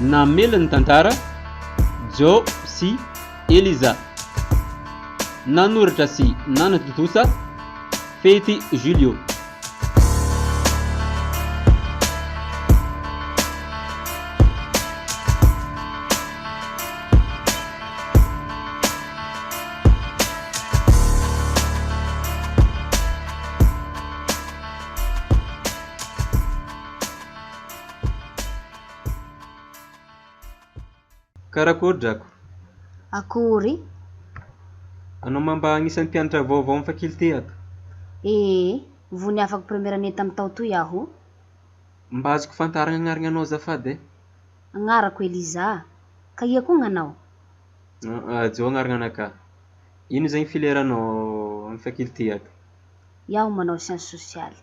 Namely ny tantara, Joe sy Eliza. Nanoratra sy nanatontosa, Fety Julio. Karakory drako? Akory? Anao ma mba agnisan'ny mpianatra vaovao amin'ny faculté ato? Ee, vao niafako première année tamin'ny tao toy aho. Mba azoko fantaragna agnaragna anao azafady e? Agnarako Eliza. Ka ia koa gn'anao? Aa Joe agnaragna ana ka. Ino zegny filière-nao amin'ny faculté ato? Iaho manao sciences sociales.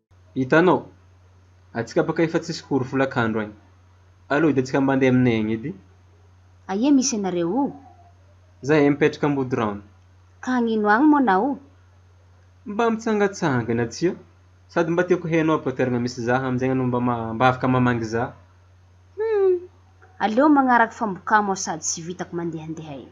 Hitanao? Atsika baka efa tsisy cours folakandro agny. Aleo hody atsika mba ndeha aminay agny edy. Aia misy anareo o? Zahay mipetraka Ambodiraona. Ka agnino agny moa nao? Mba mitsangatsangana atsika. Sady mba tiako heno aby fa toeragna misy zah aminjegny anao mba ma mba afaka mamangy zah. Humm! Aleo magnaraka fambokamo sady tsy vitako mandehandeha eo.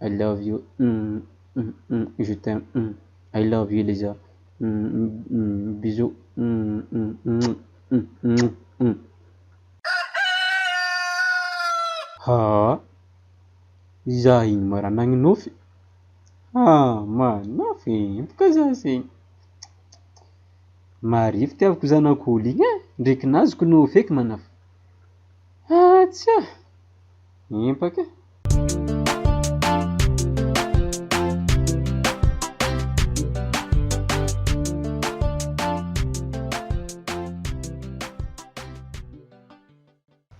I love you umm umm umm je t'aime umm I love you Liza umm umm bisous umm umm umm umm umm umm. Haa! Izaho iny marana ny nofy? Haa! Manafy empoka za zegny! Marefo tiaviko zanak'olo igny e! Ndre kinazoko nofy eky manafy! Haa! Tsia! Empaka e!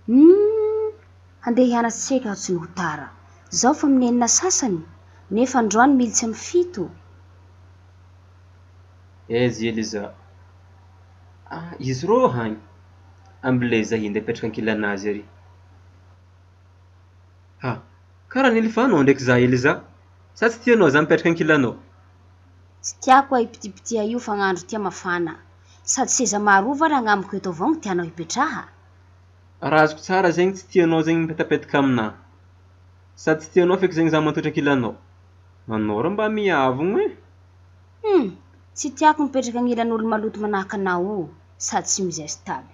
Humm! Handeha hianatra tsika aho tsy no ho tara. Zao fa amin'ny enina sasany, nefa androany militsy amin'ny fito. Ezy Eliza, Ah izy rô hagny, amble zay hinday apetraka ankilanazy ary. Ah! Ka raha nilifanao ndraiky izaho Eliza? Sa tsy tianao izaho mipetraka ankilanao? Tsy tiako ay pitipitiha io fa gn'andro tia mafana. Sady seza maroa va ragnamiko eto avao gny tianao hipetraha? Raha azoko tsara zegny tsy tianao zegny mipetapetaka aminaha. Sady tsy tianao feky zegny izaho matotra ankilanao. Anao rô mba miavogno eh! Hum! Tsy tiako mipetraka agnilan'olo maloto manahaka anao io sady tsy mi-zestable.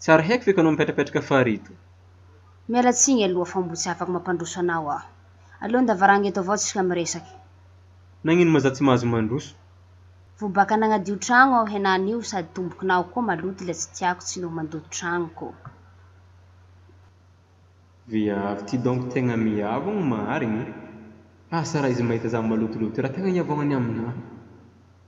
Tsy ary haiko ve ka no mipetrapetraka farihy to. Miala tsiny aloha fa mbo tsy afaka mampandroso anao aho. Aleo ndavarangy eto avao tsika miresaka. Nagnino ma za tsy mahazo mandroso. Vobaka nagnadio tragno aho henany io sady tombokinao koa maloto le tsy tiako tsy noho mandoto tragno ko. Viavy ty donc tegna miavogno marigny e! Asa raha izy mahita za malotoloto io raha tegna hiavaognany aminaha.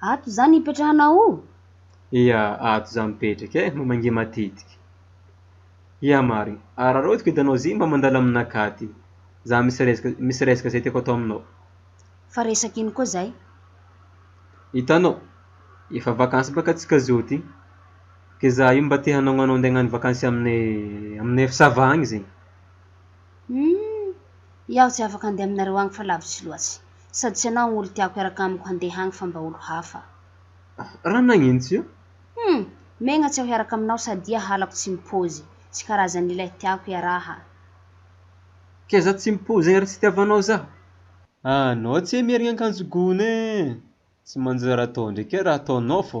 Ato za no ipetrahanao o! Ia, ato za mipetraka e! Mba mangia matetika. Ia Mari, araraotiko hitanao zay mba mandalo amin'nakahy aty. Za misy resaka, misy resaka zay tiako atao aminao. Fa resaka ino koa zay? Hitanao, efa vakansy baka antsika zao ty, ke za io mba te hanao anao ndeha hagnano vakansy aminay, aminay FSAVA agny zegny. Humm, iaho tsy afaka handeha aminareo agny fa lavitsy loatsy. Sady tsy anao olo tiako hiaraka amiko handeha agny fa mba olo hafa. Raha nagnino tsy eo? Humm! Megna tsy aho hiaraka aminao sadia halako tsy mipozy. Tsy karazan'ilay tiako hiaraha. Kay za tsy mipozy egny ary tsy itiavanao zaho. Ah anao tsy hay mierigna ankanjo gony e! Tsy manjary atao ndreky e raha ataonao fô.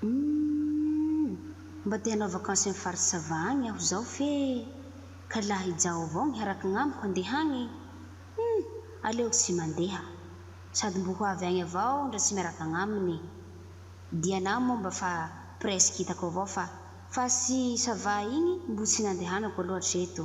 Humm! Mba te hanao vacances any faritra sava agny aho zao fe ka laha ijaho avao gny harakign amiko handeha agny, humm! aleoko tsy mandeha. Sady mbo ho avy agny avao ndra tsy miaraka agnaminy. Diana moa mba fa presque hitako avao fa faritsy sava igny mbo tsy nandehanako aloha hatreto.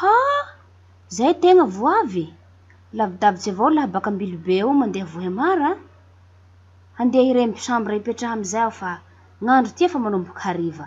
Ha! Zay tegna vo avy e! Lavidavitsy avao lahy baka Ambilobe eo mandeha Vohemar a! Handeha iremby chambre hipetraha amizay aho fa gn'andro ty efa manomboka hariva.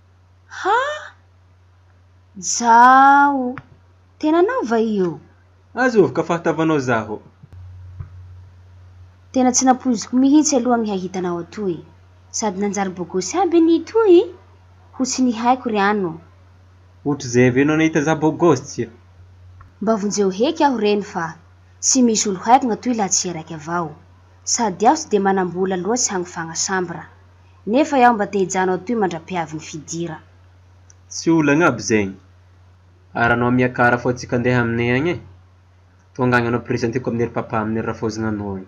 Ha! Zaho! Tena anao va io? Aza ovoka fahatavanao zaho. Tena tsy nampoiziko mihitsy aloha ny hahita anao atoy. Sady nanjary bogosy aby ny itoy? Ho tsy nihaiko ry ano. Ohatr'izay avy eo no nahita za bogosy. Mba vonjeo heky aho reny fa tsy misy olo haiko gn'atoy laha tsy iha raiky avao. Sady aho tsy dia manam-bola loatsy hagnofagna sambra. Nefa iaho mba te hijanona atoy mandra-piavin'ny fidira. Tsy olagna aby zegny. Ary anao miakara fô tsika andeha aminay agny e. Tonga agny anao presenteko amin'ny ry papa amin'ny ry rafozinanao agny.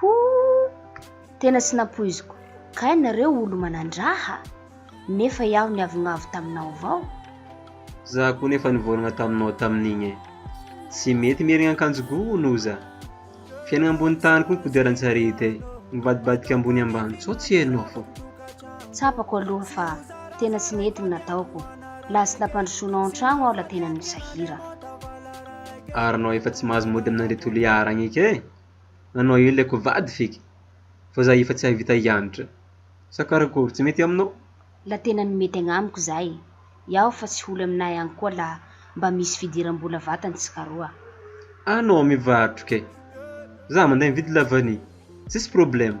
Hoo! Tena tsy nampoiziko kay nareo olo manandraha! Nefa iaho niavonavo taminao avao! Za koa nefa nivorogna taminao tamin'igny e! Tsy mety mirigna ankanjo gony o za! Fiainagna ambony tany koa ny kodiaran-tsarety e! Mivadibadika ambony ambany sao tsy hainao fô! Tsapako aloha fa tena tsy nety ny nataoko, la tsy nampandrosoanao an-tragno aho la tena nisahira! Ary anao efa tsy mahazo mody amin'andry Toliara agny eky e! Anao eo ilay kovady ve ka? Fa za efa tsy hahavita hianatra. Sa karakory, tsy mety aminao? La tena no mety agnamiko zay. Iao fa tsy holy aminay agny koa la mba misy fidiram-bola vatany tsikaroa. Anao mivarotra kay. Za manday mividy la vanille. Tsisy problema.